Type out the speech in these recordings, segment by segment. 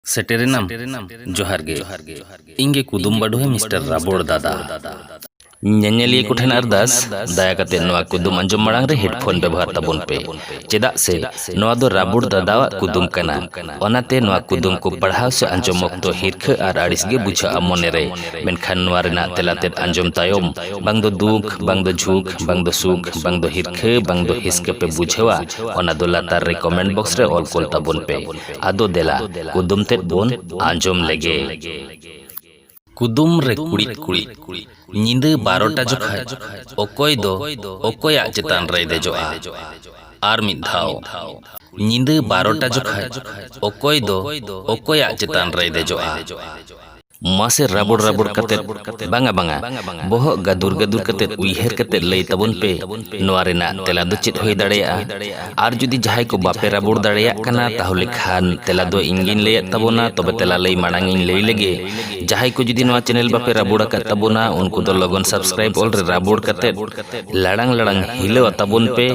ᱥᱮᱴᱮᱨᱮᱱᱟᱢ ᱡᱚᱦᱟᱨ ᱜᱮ ᱤᱧ ᱜᱮ ᱠᱩᱫᱩᱢ ᱵᱟᱰᱚᱦᱮ ᱢᱤᱥᱴᱟᱨ ᱨᱟᱵᱚᱲ ᱫᱟᱫᱟ ᱧᱮᱧᱮᱞᱤᱭᱟᱹ ᱠᱚ ᱴᱷᱮᱱ ᱟᱨᱫᱟᱥ ᱫᱟᱭᱟ ᱠᱟᱛᱮ ᱱᱚᱣᱟ ᱠᱩᱫᱩᱢ ᱟᱸᱡᱚᱢ ᱢᱟᱲᱟᱝ ᱨᱮ ᱦᱮᱰᱯᱷᱳᱱ ᱵᱮᱵᱚᱦᱟᱨ ᱛᱟᱵᱚᱱ ᱯᱮ ᱪᱮᱫᱟᱜ ᱥᱮ ᱱᱚᱣᱟ ᱫᱚ ᱨᱟᱵᱚᱲ ᱫᱟᱫᱟᱣᱟᱜ ᱠᱩᱫᱩᱢ ᱠᱟᱱᱟ ᱚᱱᱟᱛᱮ ᱱᱚᱣᱟ ᱠᱩᱫᱩᱢ ᱠᱚ ᱯᱟᱲᱦᱟᱣ ᱥᱮ ᱟᱸᱡᱚᱢ ᱚᱠᱛᱚ ᱦᱤᱨᱠᱷᱟᱹ ᱟᱨ ᱟᱹᱲᱤᱥ ᱜᱮ ᱵᱩᱡᱷᱟᱹᱜᱼᱟ ᱢᱚᱱᱮᱨᱮ ᱢᱮᱱᱠᱷᱟᱱ ᱱᱚᱣᱟ ᱨᱮᱱᱟᱜ ᱛᱮᱞᱟ ᱛᱮᱫ ᱟᱸᱡᱚᱢ ᱛᱟᱭᱚᱢ ᱵᱟᱝ ᱫᱚ ᱫᱩᱠ ᱵᱟᱝ ᱫᱚ ᱡᱷᱩᱠ ᱵᱟᱝ ᱫᱚ ᱥᱩᱠ ᱵᱟᱝ ᱫᱚ ᱦᱤᱨᱠᱷᱟᱹ ᱵᱟᱝ ᱫᱚ ᱦᱤᱥᱠᱟᱹ ᱯᱮ ᱵᱩᱡᱷᱟᱹᱣᱟ ᱚᱱᱟ ᱫᱚ ᱞᱟᱛᱟᱨ ᱨᱮ ᱠᱚᱢᱮᱱᱴ ᱵᱚᱠᱥ ᱨᱮ ᱚᱞ ᱠᱚᱞ ᱛᱟᱵᱚᱱ ᱯᱮ ᱟᱫᱚ ᱫᱮᱞᱟ ᱠᱩᱫᱩᱢ ᱛᱮᱫ ᱵᱚᱱ ᱟᱸᱡᱚᱢ ᱞᱮᱜᱮ᱾ ᱠᱩᱫᱩᱢ ᱨᱮ ᱠᱩᱲᱤᱫ ᱠᱩᱲᱤᱫ᱾ ᱧᱤᱫᱟᱹ ᱵᱟᱨᱚᱴᱟ ᱡᱚᱠᱷᱟᱡ ᱚᱠᱚᱭ ᱫᱚ ᱚᱠᱚᱭᱟᱜ ᱪᱮᱛᱟᱱ ᱨᱮᱭ ᱫᱮᱡᱚᱜᱼᱟ? ᱟᱨ ᱢᱤᱫ ᱫᱷᱟᱣ᱾ ᱧᱤᱫᱟᱹ ᱵᱟᱨᱚᱴᱟ ᱡᱚᱠᱷᱟᱡ ᱚᱠᱚᱭ ᱫᱚ ᱚᱠᱚᱭᱟᱜ ᱪᱮᱛᱟᱱ ᱨᱮᱭ ᱫᱮᱡᱚᱜᱼᱟ? ᱢᱟᱥᱮ ᱨᱟᱵᱚᱲ ᱨᱟᱵᱚᱲ ᱠᱟᱛᱮ ᱵᱟᱝᱟ ᱵᱟᱝᱟ ᱵᱚᱦᱚᱜ ᱜᱟᱫᱩᱨ ᱜᱟᱫᱩᱨ ᱠᱟᱛᱮ ᱩᱭᱦᱟᱹᱨ ᱠᱟᱛᱮ ᱞᱟᱹᱭ ᱛᱟᱵᱚᱱ ᱯᱮ ᱱᱚᱣᱟ ᱨᱮᱱᱟᱜ ᱛᱮᱞᱟ ᱫᱚ ᱪᱮᱫ ᱦᱩᱭ ᱫᱟᱲᱮᱭᱟᱜᱼᱟ ᱟᱨ ᱡᱩᱫᱤ ᱡᱟᱦᱟᱸᱭ ᱠᱚ ᱵᱟᱯᱮ ᱨᱟᱵᱚᱲ ᱫᱟᱲᱮᱭᱟᱜ ᱠᱟᱱᱟ ᱛᱟᱦᱚᱞᱮ ᱠᱷᱟᱱ ᱛᱮᱞᱟ ᱫᱚ ᱤᱧ ᱜᱤᱧ ᱞᱟᱹᱭᱮᱫ ᱛᱟᱵᱚᱱᱟ ᱛᱚᱵᱮ ᱛᱮᱞᱟ ᱞᱟᱹᱭ ᱢᱟᱲᱟᱝ ᱤᱧ ᱞᱟᱹᱭ ᱞᱮᱜᱮ ᱡᱟᱦᱟᱸᱭ ᱠᱚ ᱡᱩᱫᱤ ᱱᱚᱣᱟ ᱪᱮᱱᱮᱞ ᱵᱟᱯᱮ ᱨᱟᱵᱚᱲ ᱟᱠᱟᱫ ᱛᱟᱵᱚᱱᱟ ᱩᱱᱠᱩ ᱫᱚ ᱞᱚᱜᱚᱱ ᱥᱟᱵᱥᱠᱨᱟᱭᱤᱵ ᱚᱞ ᱨᱮ ᱨᱟᱵᱚᱲ ᱠᱟᱛᱮ ᱞᱟᱲᱟᱝ ᱞᱟᱲᱟᱝ ᱦᱤᱞᱟᱹᱣ ᱟᱛᱟᱵᱚᱱ ᱯᱮ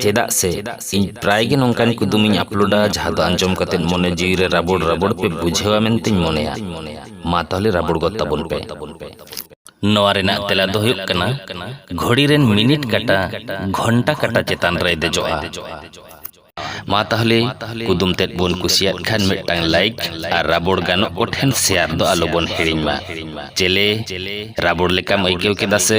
ᱪᱮᱫᱟᱜ ᱥᱮ ᱤᱧ ᱯᱨᱟᱭ ᱜᱮ ᱱᱚᱝᱠᱟᱱ ᱠᱩᱫᱩᱢ ᱤᱧ ᱟᱯᱞᱳᱰᱟ ᱡᱟᱦᱟᱸ ᱫᱚ ᱟᱸᱡᱚᱢ ᱠᱟᱛᱮ ᱢᱚᱱᱮ ᱡᱤᱣᱤ ᱨᱮ ᱨᱟᱵᱚᱲ ᱨᱟᱵᱚᱲ ᱯᱮ ᱵᱩᱡᱷᱟᱹᱣᱟ ᱢᱮᱱᱛᱮᱧ ᱢᱚᱱᱮᱭᱟ ᱢᱟ ᱛᱟᱦᱚᱞᱮ ᱨᱟᱵᱚᱲ ᱜᱚᱫ ᱛᱟᱵᱚᱱ ᱯᱮ ᱱᱚᱣᱟ ᱨᱮᱱᱟᱜ ᱛᱮᱞᱟ ᱫᱚ ᱦᱩᱭᱩᱜ ᱠᱟᱱᱟ ᱜᱷᱚᱲᱤ ᱨᱮᱱ ᱢᱤᱱᱤᱴ ᱠᱟᱴᱟ ᱜᱷᱚᱱᱴᱟ ᱠᱟᱴᱟ ᱪᱮᱛᱟᱱ ᱨᱮᱭ ᱫᱮᱡᱚᱜᱼᱟ ᱢᱟ ᱛᱟᱦᱚᱞᱮ ᱠᱩᱫᱩᱢ ᱛᱮᱫ ᱵᱚᱱ ᱠᱩᱥᱤᱭᱟᱜ ᱠᱷᱟᱱ ᱢᱤᱫᱴᱟᱝ ᱞᱟᱭᱤᱠ ᱟᱨ ᱨᱟᱵᱚᱲ ᱜᱟᱱᱚᱜ ᱠᱚ ᱴᱷᱮᱱ ᱥᱮᱭᱟᱨ ᱫᱚ ᱟᱞᱚ ᱵᱚᱱ ᱦᱤᱲᱤᱧ ᱢᱟ ᱪᱮᱞᱮ ᱨᱟᱵᱚᱲ ᱞᱮᱠᱟᱢ ᱟᱹᱭᱠᱟᱹᱣ ᱠᱮᱫᱟ ᱥᱮ